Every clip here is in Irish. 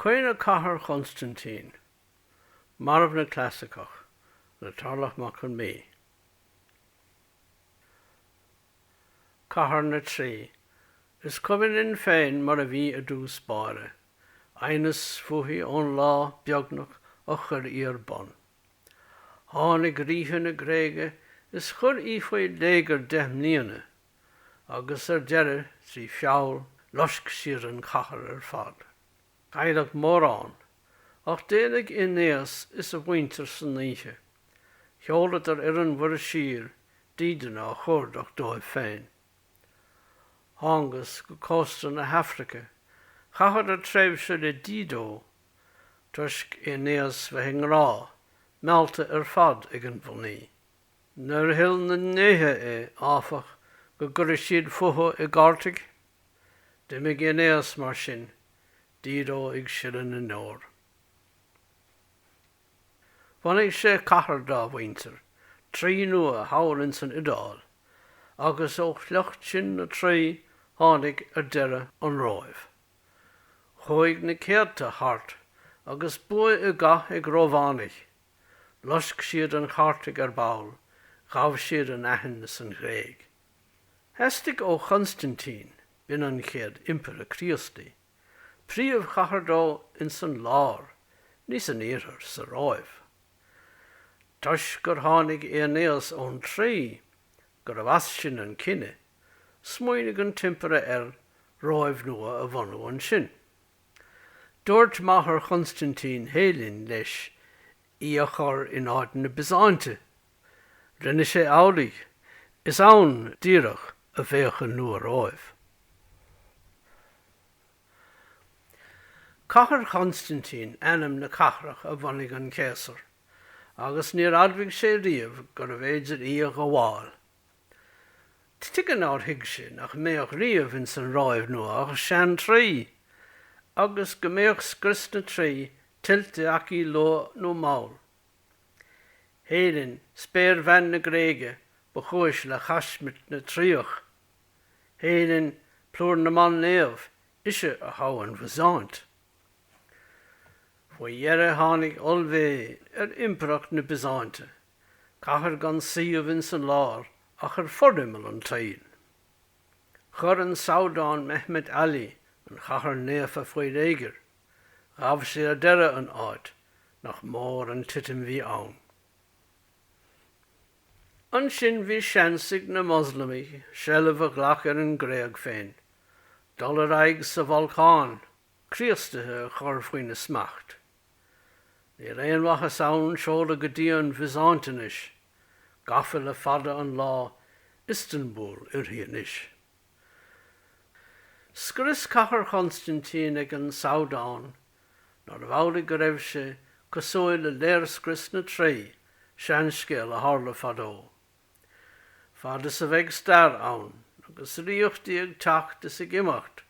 Caoineadh Cathair Chonstaintín, Marbhna Clasaiceach le Tarlach Mac Con Mí, Cathair na Traí, Is cuimhin linn féin mar a bhí i dtús báire, aighneas fúithi ón lá, beagnach, a chuir í ar bun. Tháinig ríthe na Gréige is chuir í faoi léigear deich mbliana agus ar deireadh trí feall loisc siad an chathair ar fad. Cailleadh mórán, ach d'éalaigh Aeinéas is a mhuintir san oíche. Sheoladar ar an Mhuir Siar dídean á chuardach dóibh féin. Thángas go cósta na hAifrice, chaitheadar tréimhse le Dido, toisc Aeinéas bheith i ngrá, meallta ar fad ag an mhnaoi. Níor thoil na ndéithe é, áfach, go gcuirfeadh siad fúthu i gCartaig, d'imigh Aeinéas mar sin, Dido ag sileadh na ndeor. Bhunaigh sé cathair dá mhuintir, Traí nua, thall ins an Iodáil, agus ó shliocht sin na Traí tháinig ar deireadh an Róimh. Chuaigh na céadta thart agus bua i gcath ag Rómhánaigh Loisc siad an Chartaig ar ball, ghabh siad an Aithin is an Ghréig. Theastaigh ó Chonstaintín, b'in an chéad Impire Críostaí, príomhchathair dó ins an lár, ní san iarthar, sa Róimh. Toisc gur tháinig Aeinéas ón Traí, gurbh as sin an cine, smaoinigh an tImpire ar Róimh nua a bhunú ansin. Dúirt máthair Chonstaintín, Héilin, leis í a chur in áit na Biosáinte. Rinne sé amhlaidh. Is ann, díreach, a bheadh an Nua-Róimh. Cathair Chonstaintín ainm na cathrach a bhunaigh an Céasar, agus níor admhaigh sé riamh gurbh fhéidir í a ghabháil. Tuige nár thuig sé nach mbeadh riamh ins an Róimh nua ach sean-Traí agus go mbeadh scrios na Traí tuillte aici luath nó mall. Héilin, spéirbhean na Gréige, ba chúis le chaismirt na Traíoch. Héilin, plúr na mban naomh, ise a thogh an Bhizáint. Faoi dheireadh tháinig ollmheath ar impireacht na Bizáinte cathair gan suíomh ins an lár ach ar forimeall an tsaoil. Chuir an Sabhdán Mehmet Ali an chathair naofa faoi léigear, ghabh sé ar deireadh an áit nach mór an titim bhí ann. Ansin bhí seans ag na Moslamaigh seilbh a ghlac ar an nGréig féin, dul ar aghaidh sa Bhalcán, Críostaithe a chur faoina smacht. Níl aon mhaitheas ann seoladh go dtí an Bhiosáint anois, gafa le fada an lá, Iostanbúl uirthi anois. Scrios Cathair Chonstaintín ag an Sabhdán, nárbh amhlaidh go raibh sé cosúil le léirscrios na Traí, seanscéal a tharla fadó. Fad is a bheidh stair ann agus ríochtaí ag teacht is ag imeacht,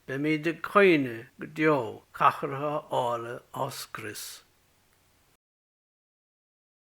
beimíd ag caoineadh go deo cathracha áille á scrios.